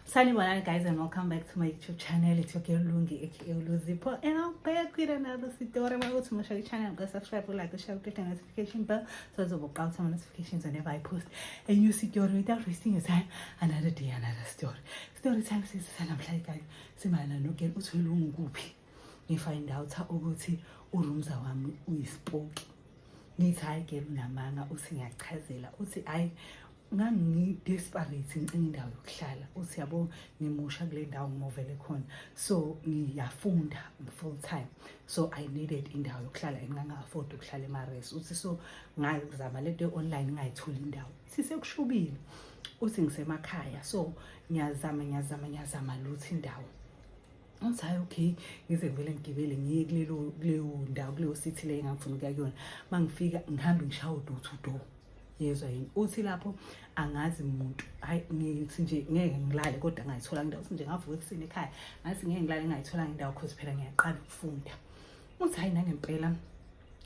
Sanibonani guys and welcome back to my YouTube channel. It's your girl Lungi aka Luzipo and I'm back with another story. My YouTube channel, channel, go subscribe, like, the share, click the notification bell so as will out some notifications whenever I post a new story without wasting your time. Another day, another story. Story time says sanamhlanje guys. Simayana no girl uthwele ungukuphi. Ngifind out ukuthi urumza wami uyisipoki. Ngithi hayi girl unamanga uthi ngiyachazela uthi hayi ngangi-desperate ngicinga indawo yokuhlala uthi yabo ngimusha kule ndawo ngimovele khona so ngiyafunda full time so i needed indawo yokuhlala and ngangi-afford ukuhlala emares uthi so ngazama le nto online ngingayitholi indawo sisekushubile uthi ngisemakhaya so ngiyazama ngiyazama ngiyazama luthi indawo ngathi hhayi okay ngize ngivele ngigibele ngiye kulelo kuleyo ndawo kuleyo sithi le engangifuna ukuya kuyona uma ngifika ngihambe ngishaye udoor to door yezwa yini uthi lapho angazi muntu hayi ngithi nje ngeke ngilale kodwa ngayithola indawo uthi nje ngavuka ekuseni ekhaya ngathi ngeke ngilale ngayithola indawo cause phela ngiyaqala ukufunda uthi hayi nangempela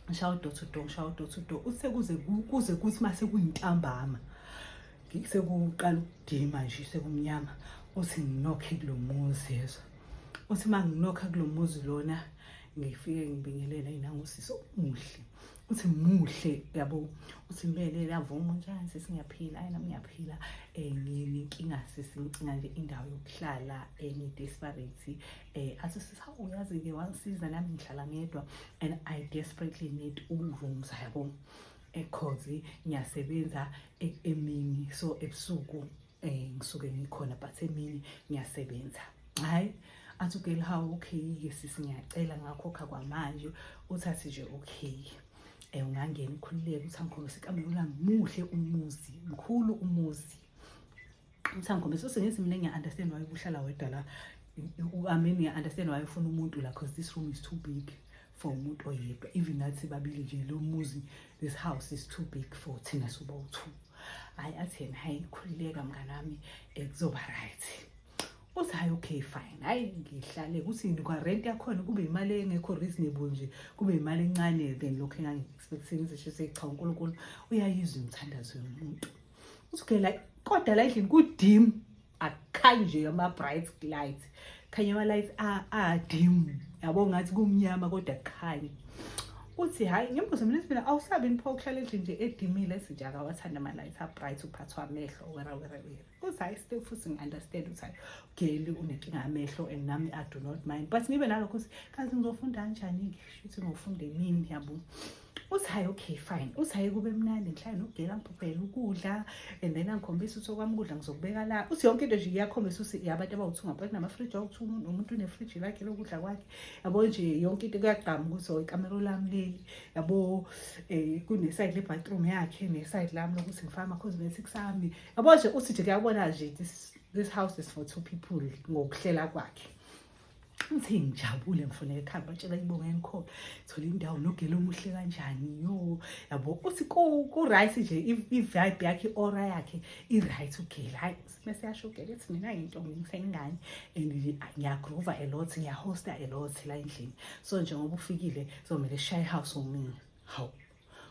ngishaye udoor to door ngishaye udoor to door usekuze kuze kuthi mase kuyintambama sekuqala ukudima nje sekumnyama uthi nginokhe kulo muzi yezwa uthi uma nginokha kulo muzi lona ngifike ngibingelela yena ngusisi omuhle uthi muhle yabo uthi mbele lavuma njani sisi ngiyaphila ayi nami ngiyaphila eh ngini inkinga sisi ngicinga nje indawo yokuhlala eh ngi desperate eh athi sisa uyazi ke wangisiza nami ngihlala ngedwa and i desperately need uroom yabo ekhozi ngiyasebenza e-, emini so ebusuku eh ngisuke ngikhona but emini ngiyasebenza hayi athi ugeli hawu okay ke sisi ngiyacela ngakhokha kwamanje uthathi nje okay eh ungangena ukhululeke uthi angikhombise ikamela muhle umuzi mkhulu umuzi uthi angikhombise usengithi mina ngiya-understand why uhlala wedwa la uameni ngiya-understand why ufuna umuntu la because this room is too big for umuntu oyedwa even nathi babili nje lo muzi this house is too big for thina soba u-two hhayi athi yena hhayi khululeka mnganami um kuzoba right uthi hhayi okay fine hhayi ngihlale ukuthi kwarent yakhona kube imali engekho reasonable nje kube imali encane than lokho engangi-expectini zisho seyi cha unkulunkulu uyayizwa imithandazo yomuntu uthi okay like kodwa la endlini kudim akhanjwe ama bright lights khanye ama lights a a dim yabo ngathi kumnyama kodwa khanye uthi hayi ngimbuze mina mina awusabi nipho ukuhlala endlini nje edimile esinje akawathanda ama lights a bright uphathwa amehlo wera wera wera uthi hayi still futhi ngi-understand ukuthi hayi geli unenkinga amehlo and nami i do not mind but ngibe nalokho ukuthi kazi ngizofunda kanjani-ke shuthi ngofunda emini yabo uthi hayi okay fine uthi hayi kube mnandi ngihlale nogela ngiphuphele ukudla and then angikhombisa ukuthi okwami ukudla ngizokubeka la uthi yonke into nje iyakhombisa ukuthi yabantu abawuthi ungabheki namafriji awuthi umuntu umuntu unefriji lakhe lokudla kwakhe yabo nje yonke into kuyagqama ukuthi oh ikamero lami leli yabo eh kuneside le bathroom yakhe neside lami lokuthi ngifake ama cosmetics ami yabo nje uthi nje kuyabona nje this this house is for two people ngokuhlela kwakhe ngithe ngijabule ngifuna ekhaya batshela ibonga engikhona thola indawo nogela omuhle kanjani yo yabo uthi ku-right nje i-vibe yakhe i-ora yakhe i-right ugela hayi mese yasho ugela ethi mina yinto ngisengane and ngiyagrova a lot ngiyahosta a lot la endlini so njengoba ufikile zomele shaye house womina hawu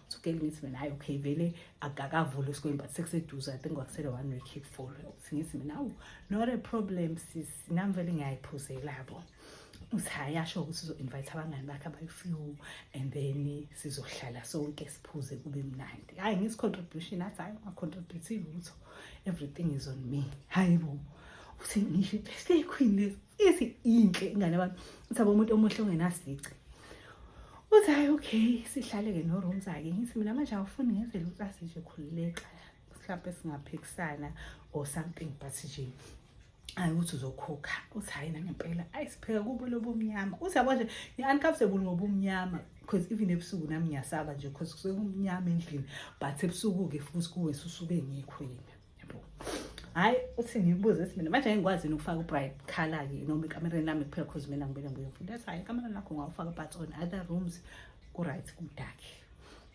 sukele ngithi mina hayi okay vele akakavuli isikweli but sekuseduze i think kwakusele one week ifolo ukuthi ngithi mina awu not a problem sis nami vele ngiyayiphuzela bo uthi hayi asho ukuthi uzo-invite abangani bakhe abayi-few and then sizohlala sonke siphuze kube mnandi hhayi ngisi-contribution athi hhayi unga-contributive lutho everything is on me hhayi bo uthi ngisho i-birthday queen lesi isi inhle ingane abantu uthi abo umuntu omuhle ongenasici uthi hayi okay sihlale-ke no-rooms ake ngithi mina manje awufuni ngenzele ukuthi asije khululeka mhlawumpe singaphikisana or something but nje hayi ukuthi uzokhokha uthi hhayi nangempela ayi sipheka kubo lobumnyama uthi yabo nje ngi-uncomfortable ngobumnyama because even ebusuku nami ngiyasaba nje because kusuke kumnyama endlini but ebusuku-ke futhi kuwe susuke ngikho yena hayi uthi ngibuze ukuthi mina manje ngikwazini ukufaka ubright color ke noma ekamereni lami kuphela because mina ngibele ngibuye mfunda ethi hayi ekamereni lakho ngawufaka but on other rooms ku-right ku-dark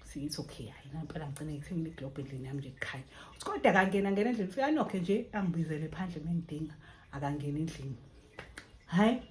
siyithi okay hayi nampela ngigcine ngithengile iglobe endlini yami nje kukhanya uthi kodwa akangena ngena endlini ufika anokhe nje angibizele phandle mengidinga akangena endlini hayi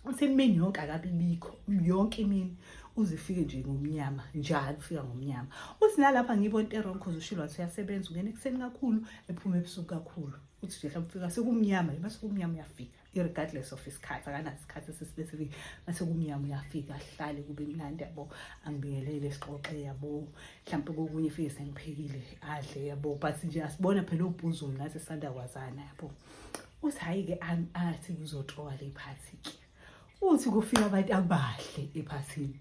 usemini yonke akabi bikho yonke imini uzifike nje ngomnyama njalo ufika ngomnyama uthi nalapha ngibona into erong cause ushilo wathi uyasebenza ungena ekuseni kakhulu ephuma ebusuku kakhulu uthi nje mhlawumbe ufika sekumnyama yima sekumnyama uyafika irregardless of isikhathi akanasikhathi esispecific mase kumnyama uyafika ahlale kube mnandi yabo angibingelele sixoxe yabo mhlawumbe kokunye fike sengiphekile adle yabo but nje asibona phela ubhuzu mna sisanda kwazana yabo uthi hhayi-ke athi kuzotoa le phathi-ke uthi kufika abantu abahle ephathini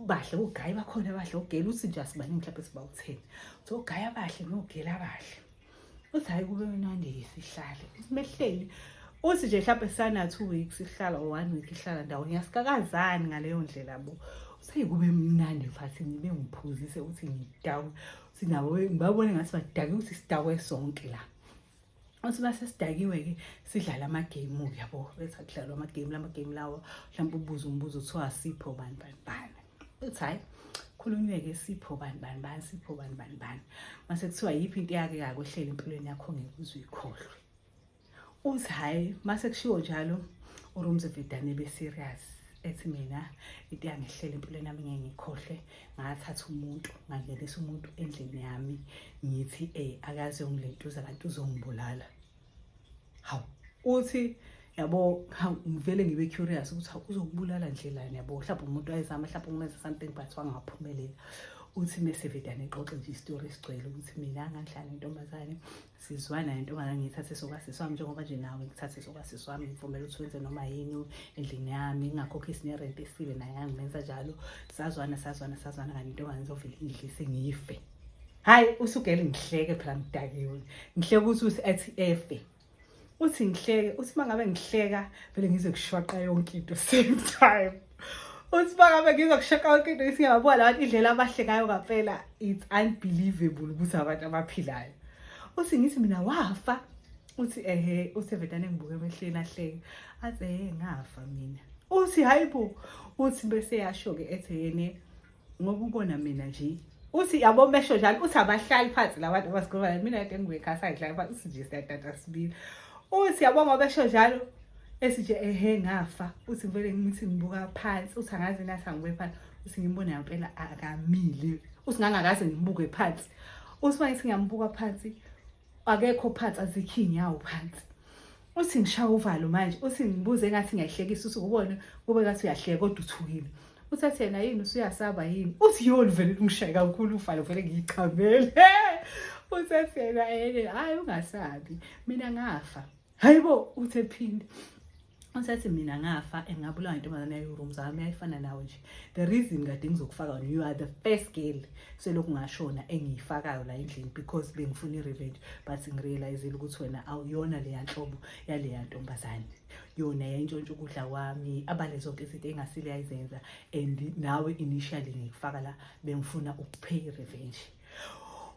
bahle ogayi bakhona abahle ogela uthi nje asibaningi mhlawumbe sibawu-ten uthi ogayi abahle nogela abahle uthi hhayi kube mnandi-ke sihlale simehleli uthi nje mhlawumbe sana-two weeks ihlala or one week ihlala ndawonye asikakazani ngaleyo ndlela bo seyikube mnandi fathi ngibe ngiphuzise ukuthi ngidakwe uthi nabo ngibabone ngathi badake ukuthi sidakwe sonke la Usiba sesidakiwe-ke sidlala amagame-ke yabo bese kudlalwa amagame la magame lawo mhlawumbe ubuze umbuzo kuthiwa sipho bani bani bani uthi hhayi khulunywe-ke sipho bani bani bani sipho bani bani bani mase kuthiwa yiphi into yake kake ohlele empilweni yakho ngeke uze uyikhohlwe uthi hhayi mase kushiwo njalo urumzevedane be-serious ethi mina into yangehlela empilweni yami ngeke ngikhohlwe ngathatha umuntu ngangenisa umuntu endlini yami ngithi eh akaze ungilentuza kanti uzongibulala hawu uthi yabo ngivele ngibe curious ukuthi hawu uzokubulala nje lana yabo mhlawumbe umuntu wayezama mhlawumbe umenza something but wangaphumelela uthi mese vedane xoxe nje isitori esigcwele ukuthi mina ngangihlala nentombazane sizwana yentombazane ngiyithathe sokwasisi wami njengoba nje nawe ngithathe sokwasisi wami ngivumela ukuthi wenze noma yini endlini yami ngingakhokhisi nerent esile naye angimenza njalo sazwana sazwana sazwana kanti intombazane izovele ingidlise ngife hhayi usugele ngihleke phela ngidakiwe ngihleke ukuthi uthi athi efe uthi ngihleke uthi uma ngabe ngihleka vele ngizokushwaqa yonke into same time uthi uma ngabe ngizokushwaqa yonke into isingabona labantu indlela abahlekayo ngampela it's unbelievable ukuthi abantu abaphilayo uthi ngithi mina wafa uthi ehe uthi vedane ngibuke emehleni ahleke athi ehe ngafa mina uthi hayi bo uthi bese yasho-ke ethi yene ngoba ubona mina nje uthi yabo mesho njalo uthi abahlali phansi labantu abasikhuluma mina kade ngiwekhasa ngihlala phansi uthi nje siyadada sibili uthi yabo ngoba esho njalo esije ehe ngafa uthi ngivele ngithi ngibuka phansi uthi angazi nathi angibuke phansi uthi ngimbone yampela akamile uthi ngangakaze ngibuke phansi uthi uma ngithi ngiyambuka phansi akekho phansi azikhi inyawo phansi uthi ngishawa uvalo manje uthi ngibuze ngathi ngiyahlekisa uthi ubone kube ngathi uyahleka kodwa uthukile uthi athi yena yini usuyasaba yini uthi yona vele lungishaye kakhulu uvalo vele ngiyichamele uthi athi yena yena hayi ungasabi mina ngafa hayi bo uthe phinde usethi mina ngafa engabulawa intombazane yayo-room zami yayifana nawe nje the reason kade ngizokufaka wena you are the first girl selokhu ngashona engiyifakayo la endlini because bengifuna i-revenge but ngirealizile ukuthi wena awuyona leya nhlobo yaleya ntombazane yona yayintshontsha ukudla kwami abale zonke izinto engasile yayizenza and nawe initially ngikufaka la bengifuna ukupay i-revenge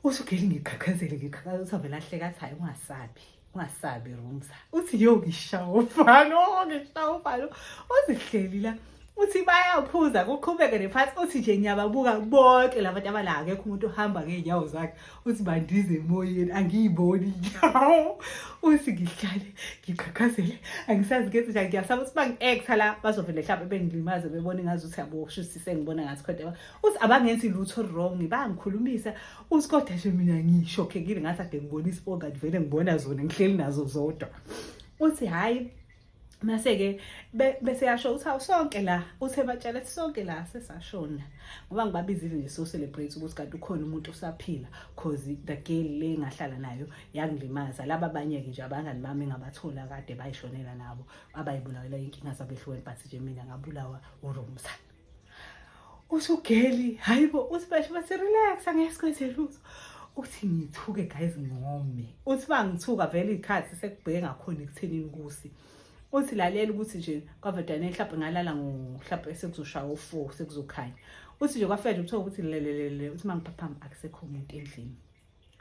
usugeli ngiqhaqhazele ngiqhaqhazela ukuthi avele ahleka athi hayi ungasabi ungasabi rumza uthi yo ngishaya ufalo ngishaya ufalo uzihleli la uthi bayaphuza kuqhubeke nephathi uthi nje ngiyababuka bonke laba bantu abala akekho umuntu ohamba ngey'nyawo zakhe uthi bandize emoyeni angiyiboni inyawo uthi ngihlale ngiqhaqhazele angisazi ngenze njani ngiyasaba ukuthi bangi-ektha la bazovele mhlawumbe bengilimaze bebone ngazi ukuthi yabo shuthi sengibona ngathi khona uthi abangenzi lutho wrong bangikhulumisa uSkoda nje mina ngishokhekile ngathi ade ngibona isibonga ngivele ngibona zona ngihleli nazo zodwa uthi hhayi mase-ke bese yasho ukuthi hawu sonke la uthe batshela ukuthi sonke la sesashona ngoba ngibabizile nje so-celebrate ukuthi kanti ukhona umuntu osaphila cause the girl le ngahlala nayo yangilimaza laba abanye-ke nje abangani bami ngabathola kade bayishonela nabo abayibulawela inkinga zabehlukene but nje mina ngabulawa urumzana usugeli hayibo uthi basho bathi relax angeke sikwenze lutho uthi ngithuke guys ngome uthi bangithuka vele ikhathi sekubheke ngakhona ekuthenini kusi uthi lalela ukuthi nje kwavadane mhlawumbe ngalala ngohlawumbe sekuzoshaya u-four sekuzokhanya uthi nje kwafela uthola ukuthi lelelele uthi uma ngiphaphama akusekho muntu endlini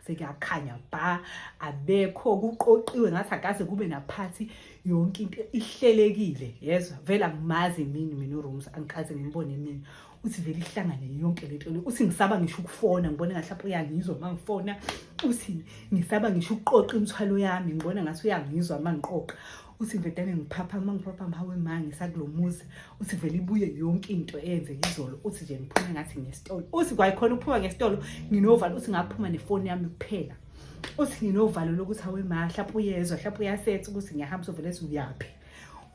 sekuyakhanya bha abekho kuqoqiwe ngathi akaze kube naphathi yonke into ihlelekile yezwa vele angimazi mini mina urooms angikaze ngimbone mina uthi vele ihlangane yonke le nto le uthi ngisaba ngisho ukufona ngibona ngathi lapho uyangizwa uma ngifona uthi ngisaba ngisho ukuqoqa imithwalo yami ngibona ngathi uyangizwa uma ngiqoqa uthi vedane ngiphapha uma ngiphapha mawe ma ngisakulo muzi uthi vele ibuye yonke into eyenzeka izolo uthi nje ngiphume ngathi ngesitolo uthi kwayikhona ukuphuma ngesitolo nginovalo uthi ngaphuma nefoni yami kuphela uthi nginovalo lokuthi awe ma hlapha uyezwa hlapha uyasetha ukuthi ngiyahamba sovele ethi uyaphi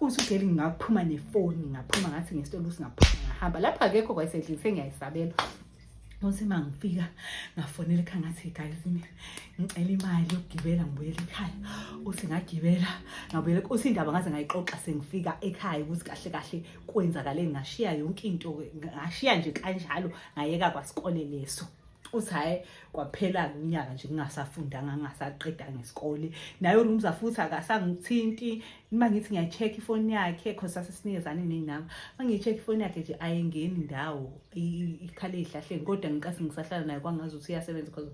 uthi ugeli ngingaphuma nefoni ngaphuma ngathi ngesitolo uthi ngaphuma ngahamba lapho akekho kwayisedlini sengiyayisabela Uthi uma ngifika ngafonela ekhaya ngathi guys ngicela imali yokugibela ngibuyela ekhaya uthi ngagibela ngabuyela uthi indaba ngaze ngayixoxa sengifika ekhaya ukuthi kahle kahle kwenzakale ngashiya yonke into ngashiya nje kanjalo ngayeka kwasikole leso uthi hhayi kwaphela unyaka nje ngingasafundanga ngingasaqedanga isikole naye urumza futhi akasangithinti uma ngithi ngiyacheck ifoni yakhe cause sasesinikezane ney'namba uma ngiyi-check ifoni yakhe nje ayengeni ndawo ikhale ey'hlahleni kodwa ngiqase ngisahlala naye kwangazi ukuthi iyasebenza cause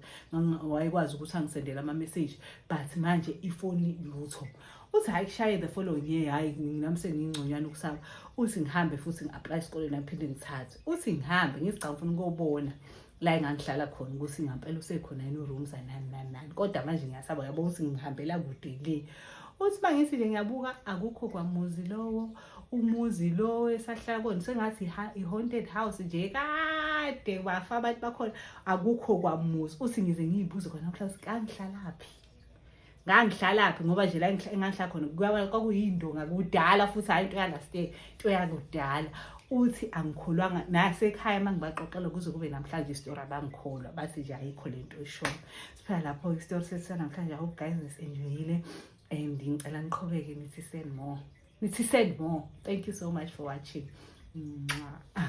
wayekwazi ukuthi angisendele ama-message but manje ifoni lutho uthi hhayi kushaye the following year hhayi nami sengingconywana ukusaba uthi ngihambe futhi ngi-aplaye esikoleni aphinde ngithathe uthi ngihambe ngizigcawu ngifuna ukobona la engangihlala khona ukuthi ngampela usekhona yini uroom zanani nani nani kodwa manje ngiyasaba yabo ukuthi ngihambela kude le uthi uma ngithi nje ngiyabuka akukho kwamuzi lowo umuzi lowo esahlala kona sengathi i-haunted house nje kade wafa abantu bakhona akukho kwamuzi uthi ngize ngiyibuze khona mhlawumbe kangihlala phi ngangihlalaphi ngoba nje la engangihlala khona kwakuyindonga kudala futhi hhayi into yalastay into yakudala uthi angikholwanga nasekhaya uma ngibaxoxela kuze kube namhlanje isitori abangikholwa bathi nje ayikho le nto eshoyo siphela lapho isitori sesisanamhlanje hope guys nisenjoyile and ngicela niqhubeke nithi send more nithi send more thank you so much for watching Mwah.